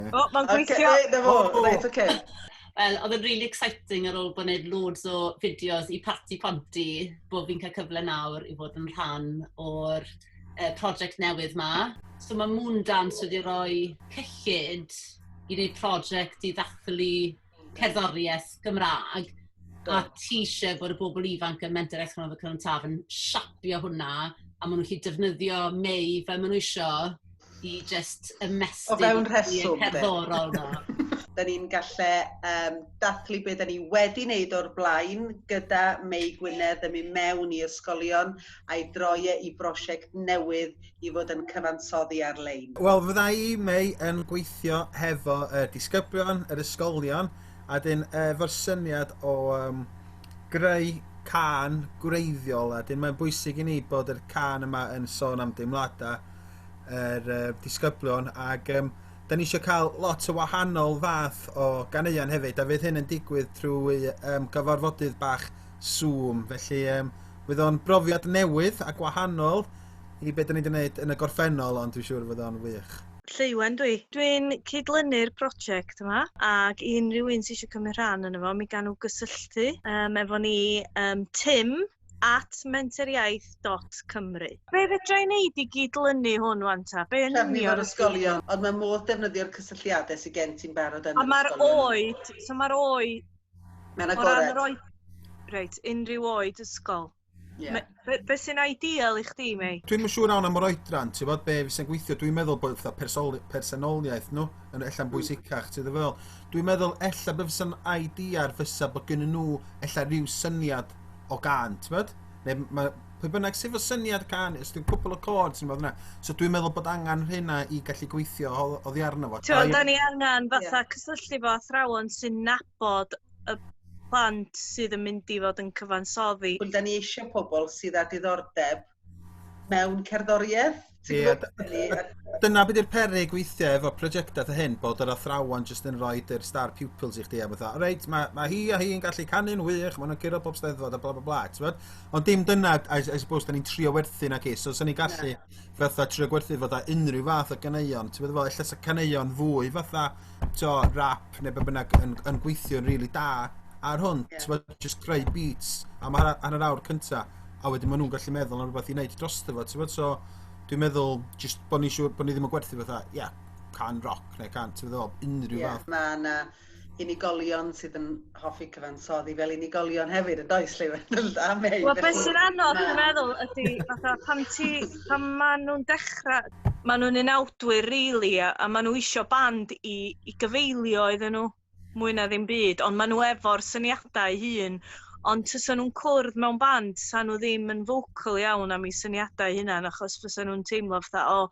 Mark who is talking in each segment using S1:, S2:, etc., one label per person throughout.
S1: O, mae'n gweithio! Okay, na fo, oh. reit, oce. Okay. Wel, oedd yn really exciting ar ôl bod wneud loads o fideos i Parti Ponti, bod fi'n cael cyfle nawr i fod yn rhan o'r uh, prosiect newydd ma. So mae Moondance wedi rhoi cyllid i wneud prosiect i ddathlu cerddoriaeth Gymraeg, a ti eisiau bod y bobl ifanc yn Mentrau Iaith Gonalfa Cynon Taf yn siapio hwnna, a maen nhw'n gallu defnyddio Mei fel maen nhw isio i jyst ymestyn... O fewn rheswm. ...y cerddorol yna. Da ni'n gallu um, dathlu beth da ni wedi wneud o'r blaen gyda Mei Gwynedd yn mynd mewn i ysgolion a'i droi e i brosiect newydd i fod yn cyfansoddi ar-lein? Wel, fydda i, Mei, yn gweithio hefo y disgyblion, yr ysgolion, a dyn efo'r syniad o um, greu can gwreiddiol, a dyn mae'n bwysig i ni bod yr can yma yn sôn am deimladau yr uh, disgyblion, ac um, da ni eisiau cael lot o wahanol fath o ganeuon hefyd, a fydd hyn yn digwydd trwy um, gyfarfodydd bach Zoom, felly um, bydd o'n brofiad newydd a gwahanol, i be' 'dan ni 'di neud yn y gorffennol ond dwi siŵr fod o'n wych. Lleuwen dw i. Dwi'n cyd-lynu'r project yma ac i unrhyw un sy eisiau cymryd rhan yno fo mi gawn nhw gysylltu um, efo ni um, tim at menteriaeth.cymru. Be fedra i wneud i gyd-lynu hwn wan ta? Be yn Trefnu union? ysgolion, ond mae modd defnyddio'r cysylltiadau sydd gen ti'n barod yn yr ysgolion. A mae'r oed, so mae'r oed... Mae'n agored. O ran yr oed... Reit, unrhyw oed ysgol. Ie. Me- be' be' sy'n ideal i chdi Mei? Dwi'm yn siŵr iawn am yr oedran ti fod be' fysa'n gweithio dwi'n meddwl bod fatha persoli- personoliaeth nhw yn ella'n hmm. bwysicach ti ddim yn meddwl? Dwi'n meddwl ella be' fysa'n ideal fysa bod gynnyn nhw ella rhyw syniad o gan ti fod? Ne' ma' pwy bynnag sydd efo syniad can os dwi'n cwpl o chords neu rwbath fel So dwi'n meddwl bod angan rhena i gallu gweithio o- oddi arno fo. T'wod 'dan ni angan fatha cysylltu fo athrawon sy'n nabod y plant sydd yn mynd i fod yn cyfansoddi. Ond da ni eisiau pobl sydd â diddordeb mewn cerddoriaeth. Ie, dyna beth yw'r perig weithiau efo prosiectau ta hyn, bod yr athrawon jyst yn rhoi yr star pupils i chdi a fatha, reit, mae, mae hi a hi'n gallu canu'n wych, maen nhw'n curo bob steddfod a bla bla bla, ti'n bod? Ond dim dyna, I, I suppose, da ni'n trio werthu na ci, so sy'n ni gallu yeah. fatha trio gwerthu fatha unrhyw fath o ganeuon, ti'n bod? Efo, ella sa caneuon fwy fatha, t'o' rap ne' be' bynnag yn yn gweithio'n rili da ar hwn. Ie. T'mod jyst creu beats am ha- hanner awr cynta a wedyn ma' nw'n gallu meddwl am rwbath i neud drosto fo t'mod so dwi'n meddwl jyst bo' ni'n siŵr bo' ni ddim yn gwerthu fatha ia can roc ne' can t'mod be' dwi feddwl? Unrhyw fath. Ie ma' 'na unigolion sydd yn hoffi cyfansoddi fel unigolion hefyd, yn does, Lleuwen? A Mei. Wel, beth sy'n anodd, dwi'n meddwl, ydy, fatha, pan ti, pan maen nhw'n dechrau, maen nhw'n unawdwyr, really, a, a maen nhw eisiau band i, i gyfeilio iddyn nhw, mwy na ddim byd, ond maen nhw efo'r syniadau hun, ond tysa nhw'n cwrdd mewn band, sa nhw ddim yn focal iawn am eu syniadau hunan, achos fysa nhw'n teimlo fatha, o, oh,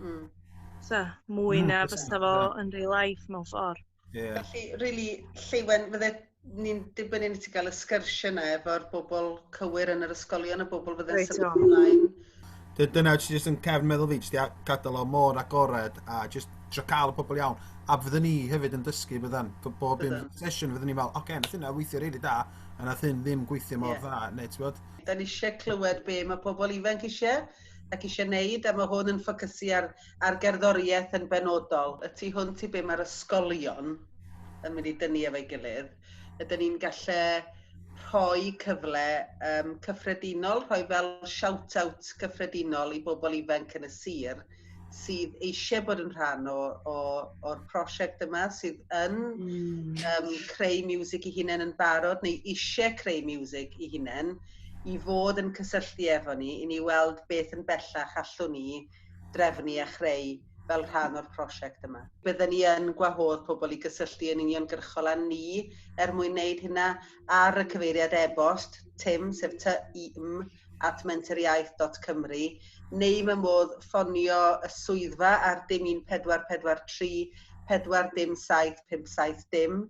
S1: Mm. So, mwy mm, na fysa fo yn real life mewn ffordd. Yeah. Felly, really, Lleuwen, fydde ni'n dibynnu ni ti gael y sgyrsiau yna efo'r bobl cywir yn yr ysgolion, y bobl fydde'n right, symud ymlaen. Dyna, ti jyst yn cefn meddwl fi, jyst gadael o mor agored a jyst trio cael y pobl iawn. A fydden ni hefyd yn dysgu fydden, bob un sesiwn fydden ni'n fel, oce, okay, nath hynna weithio rili da, a nath hyn ddim gweithio mor yeah. dda, neu ti'n bod? Da ni eisiau clywed be mae pobl ifanc eisiau, ac eisiau wneud, a mae hwn yn ffocysu ar, ar gerddoriaeth yn benodol. Y tu hwnt i be mae'r ysgolion yn mynd i dynnu efo'i gilydd, ydyn ni'n gallu rhoi cyfle um, cyffredinol, rhoi fel shout-out cyffredinol i bobl ifanc yn y sir sydd eisiau bod yn rhan o, o, o'r prosiect yma, sydd yn mm. um, creu music i hunain yn barod neu eisiau creu music i hunain, i fod yn cysylltu efo ni i ni weld beth yn bellach allwn ni drefnu a chreu fel rhan o'r prosiect yma. Bydden ni yn gwahodd pobl i gysylltu yn uniongyrchol â ni er mwyn wneud hynna ar y cyfeiriad e-bost tim, sef ty i m, at mentoriaeth.cymru neu mae modd ffonio y swyddfa ar dim 1443 4 dim 7 5 7 dim.